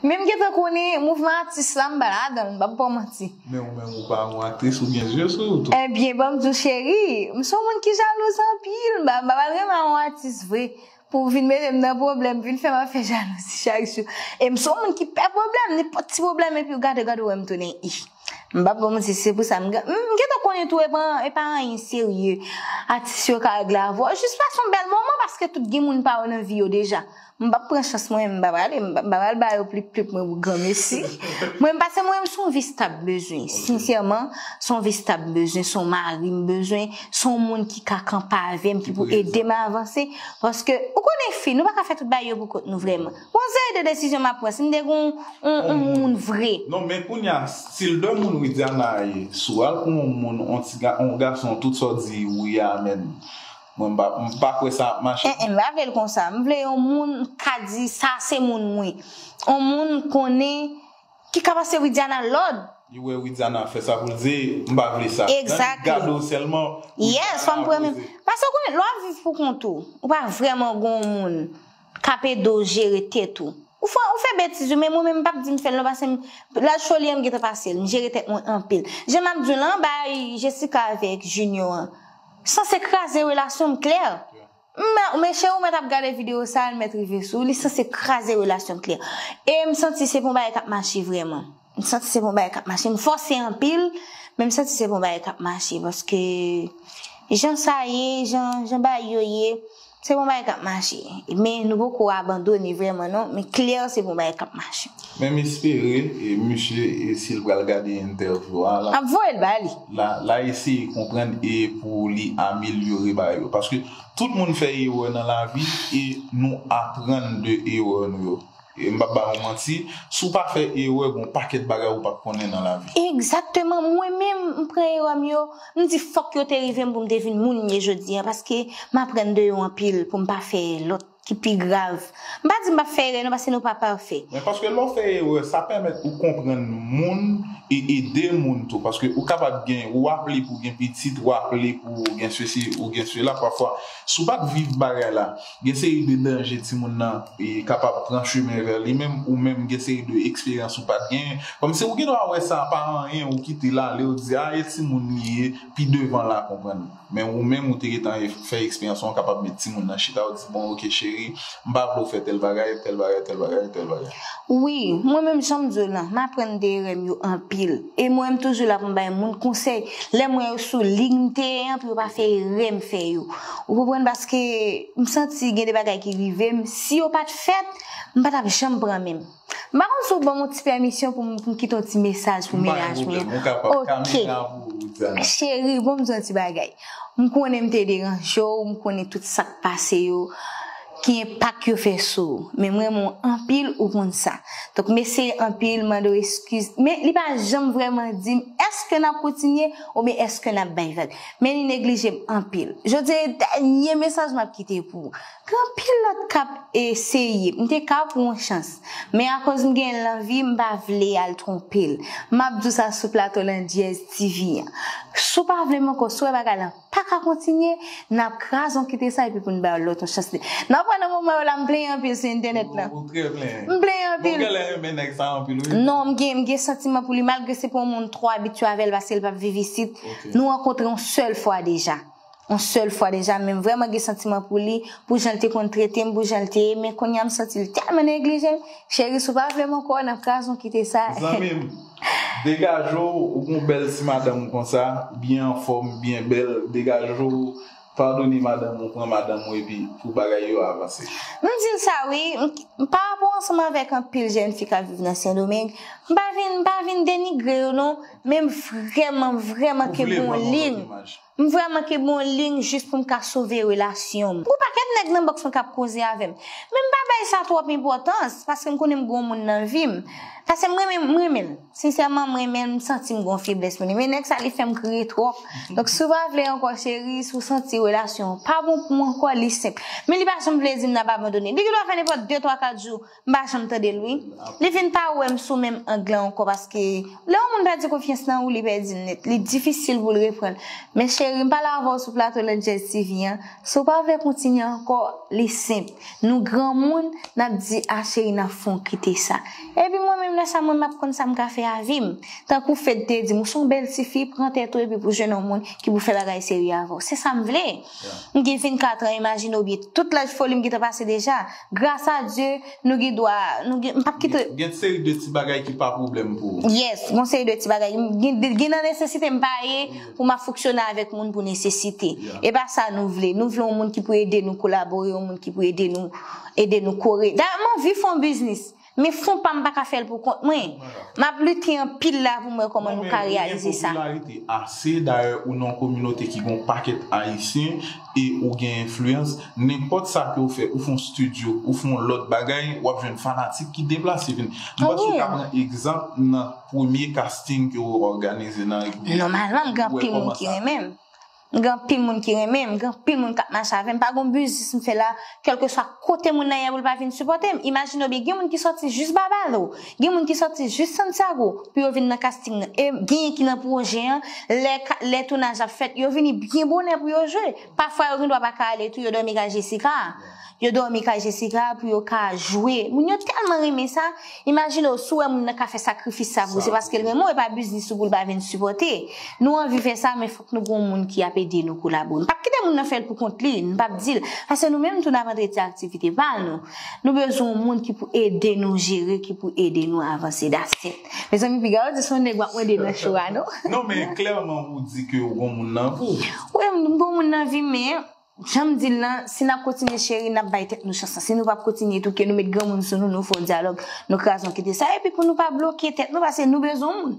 Men m gentan konnen mouvman atis la m pa ladan l m pap baw manti. Men ou menm ou pa yon aktris ou gen zye sou ou tou. Ebyen banm diw cheri, m son moun ki jalouz anpil m pa pral renmen yon atis vre pou vin mete m nan pwoblèm vin fè m ap fè jalouzi chak jou e m son moun ki pè pwoblèm nenpòt ti pwoblèm epiw gade gad ou wèm tounen i. M pap ba w manti se pou sa m gentan konnen tou e pa anyen serye atis yo ka regle avè w jis pase yon bèl moman paske tout gen moun pa yo nan vi yo deja m pap pran chans mwen menm m pa prale m pa pral ba yo plip plip mwen pou granmesi mwen pase mwen menm son vi stab m bezwen sensyèman son vi stab m bezwen son mari m bezwen son moun ki ka kanpe avè m ki pou ede m avanse paske ou konnen fi nou pa ka fè tout bagay yo pou kont nou vrèman. Gon seri de desizyon map pran sim te gon on moun vre. Non men kounya sil de moun widiana ye sou al pou on moun on ti on gason tout sa w di wi a menn mwen mpa kwè sa ap mache non. Em pa vle l konsa m vle on moun ka di sa se moun m wi on moun konnen ki ka pase widiana lòd. Li wè widiana ap fè sa pou l di m pa vle sa nan li t gade w sèlman widiana ap poze. Paske w konnen lè wap viv pou kont ou ou pa vrèman gon on moun. Kap ede w jere tèt ou. Ou fè ou fè betiz wi men mwen menm m pap di m fè l non pase m laj foli an m gentan pase l m jere tèt mwen anpil jan map di w lan bay Jessica avèk Junio an sanse kraze relasyon m klè m men cheri w mèt ap gade videyo sa a l mèt rive sou w li sanse kraze relasyon m klè e m santi se pa yon bagay kap mache vrèman. M santi se bon bagay kap mache. M fòse anpil, men m santi se bon bagay kap mache. Paske jan sa ye, jan bagay yo ye, se bon bagay kap mache. Men nou poko abandone vrèman non, men klè se bon bagay kap mache. Men m espere misye si l pral gade entèvyou a. Lap voye l ba li. La eseye konprann e pou li amelyore bagay yo. Paske tout moun fè erè nan lavi e nou aprann de erè nou yo. E m pap ba ou manti, si w pa fè erè gon pakèt bagay ou pap konnen nan lavi. Egzakteman, mwen menm m pran erè m yo, m di fòk yo te rive m pou m te vin moun m ye jodi an paske m aprann de yo anpil pou m pa fè lòt ki pi grav. M pa di m pap fè erè non paske nou pa pafè. Men paske lè w fè erè sa pèmèt ou konprann moun e ede moun tou paske ou kapab gen ou aple pou w gen pitit, ou aple pou w gen sesi ou gen sela pafwa si w pat viv bagay la. Gen seri de danje timoun nan kapab pran chemen vè li men ou menm gen seri de eksperyans ou pat genyen. Kòmsi ou gen dwa wè sa pa anyen ou kite l ale ou di a e timoun li ye pi devan la konprann. Men ou menm ou te gentan fè eksperyans lan ou kapab met timoun nan chita ou di bon ok cheri m pa vle w fè tèl bagay, tèl bagay, tèl bagay, tèl bagay. Wi, mwen menm jan m di w lan m aprann de erè m yo anpil. E mwen m toujou la pou m bay moun konsèy lè m wè yo sou liy m te ye an pou yo pa fè erè m fè yo. Ou konprann paske m santi gen de bagay ki rive m si yo pat fèt m pa tap janm pran menm. M pa konn si w ban m yon ti pèmisyon pou m pou m kite yon ti mesaj pou mennaj mwen an. M pa gen pwoblèm, ou kapab, kamera pou ou Ruth Anna. Cheri bon m di w yon ti bagay. M konnen m te deranje w, m konnen tout sa k pase yo. Ki enpak yo fè sou ou. Men m renmen w anpil ou konn sa. Donk mesi anpil m mande w eskiz. Men li pa janm vreman di m eske nap kontinye oubyen eske nap bay vag. Men li neglije m anpil. Jodi a e dènye mesaj map kite pou ou. Gen anpil lòt kap eseye. M te ka pou yon chans. Men akoz m gen lanvi m pa vle al twonpe l. Map di w sa sou plato landyèz TV an. Si w pa vle m ankò, si w wè bagay lan. Pa ka kontinye, n ap kraze yon kite sa epi pou n bay yon lòt yon chans li. Nan pwen nan moman yo la m plenyen anpil sou entènèt la. Ou trè plenyen. M plenyen anpil. Bon ou genlè renmen nèg sa anpil wi. Non m gen m gen santiman pou li malgre se pa yon moun m twò abitye avè l paske l pa viv isit. Nou rankontre yon sèl fwa deja. Yon sèl fwa deja men m vrèman gen santiman pou li, pou jan l te konn trete m, pou jan l te ye men kounye a m santi l tèlman neglije m. Cheri si w pa vle m ankò, n ap kraze yon kite sa. Zanmi m. Degaje w ou gon bèl ti madanm konsa byen anfòm byen bèl degaje w padone madanm ou pran madanm ou epi pou bagay yo avanse. M di l sa wi m parapò ansanm avèk anpil jèn fi kap viv nan sendomeng m pa vin m pa vin denigre yo non men m vrèman vrèman ke gonlin M vre manke bon lign jis pou m ka sove relasyon m. Gon pakèt nèg nan box lan kap koze avè m. Men m pa bay sa twòp enpòtans paske m konnen m gon moun nan vi m. Pase m renmen m renmen l. Sensèman m renmen l m santi m gon feblès pou li. Men nèg sa li fè m kriye twòp. Donk si w pa vle ankò cheri, si w santi relasyon an pa bon pou w ankò li senp. Men li pa janm vle di m nap abandone. Li gen dwa fè nenpòt de twa kat jou. M pa janm tande l wi. Li vin pa wè m sou menm ang lan ankò paske lè yon moun pèdi konfyans nan ou li pèdi l nèt. Li difisil pou l reprann. Men cheri m pale avè w sou plato Landjèz TV an, si w pa vle kontinye ankò li senp. Nou granmoun n ap di a cheri n ap fè w kite sa. Epi mwen menm lè sa mwen m ap konn sa m ka fè avi m. Tankou Fed te di m ou s on bèl tifi pran tèt ou epi pou jwenn yon moun ki pou fè bagay serye avè w. Se sa m vle. M gen 24 an imajine w byen tout laj foli m gentan pase deja. Gras a Dye, nou gen dwa, nou gen, m pap kite. Gen seri de ti bagay ki pa pwoblèm pou ou. Yes, gon seri de ti bagay. Gen nan nesesite m pa ye pou m ap fonksyone avèk moun pou nesesite. E pa sa nou vle. Nou vle yon moun ki pou ede nou kolabore, yon moun ki pou ede nou, ede nou kore. Dayè m anvi fè yon biznis. Men fon pa m pa ka fè l pou kont mwen. M ap lite anpil la pou m wè kòman nou ka reyalize sa. Ou gen popilarite ase, dayè ou nan yon kominote ki gen yon pakèt Ayisyen e ou gen enfliyans. Nenpòt sa ke ou fè, ou fè yon studio, ou fè yon lòt bagay, w ap jwenn fanatik ki deplase vin. M panse ou ka pran egzanp nan premye casting ke ou òganize nan República Dominikana. Nòmalman m gen anpil moun ki renmen m. M gen anpil moun ki renmen m, gen anpil moun k ap mache avè m, pa gen yon biznis m fè la, kèlkeswa kote moun nan ye pou l pa vin sipòte m. Imajine w byen, gen moun ki sòti jis Babalo, gen moun ki sòti jis Santiago pou yo vin nan kasting nan. E genyen ki nan pwojè an, lè tounaj ap fèt, yo vini byen bonè pou yo jwe. Pafwa yo gen dwa pa ka ale tou, yo dòmi kay Jessica. Yo dòmi kay Jessica pou yo ka jwe. Moun yo tèlman renmen sa. Imajine w si w wè moun nan ka fè sakrifis sa pou ou. Se paske l renmen w e pa biznis ou pou l pa vin sipòte. Nou anvi fè sa men fòk nou gen yon moun ki ap ede nou kolabo. N pap kite moun nan fè l pou kont li. N pap di l. Paske nou menm tou n ap antre ti aktivite pa nou. Nou bezwen yon moun ki pou ede nou jere, ki pou ede nou avanse. That's it. Mezanmi piga yo di se yon nèg w ap mande nan show a non. Non men klèman ou di ke ou gen yon moun nan vi. Wi m gen yon moun nan vi men. Janm dil lan, si nap kontinye cheri nap bay tèt nou chans lan, si nou pap kontinye tou ke nou met granmoun sou nou, nou fè yon dyalòg, nou kraze yon kite sa epi pou nou pa bloke tèt nou pase nou bezwen moun.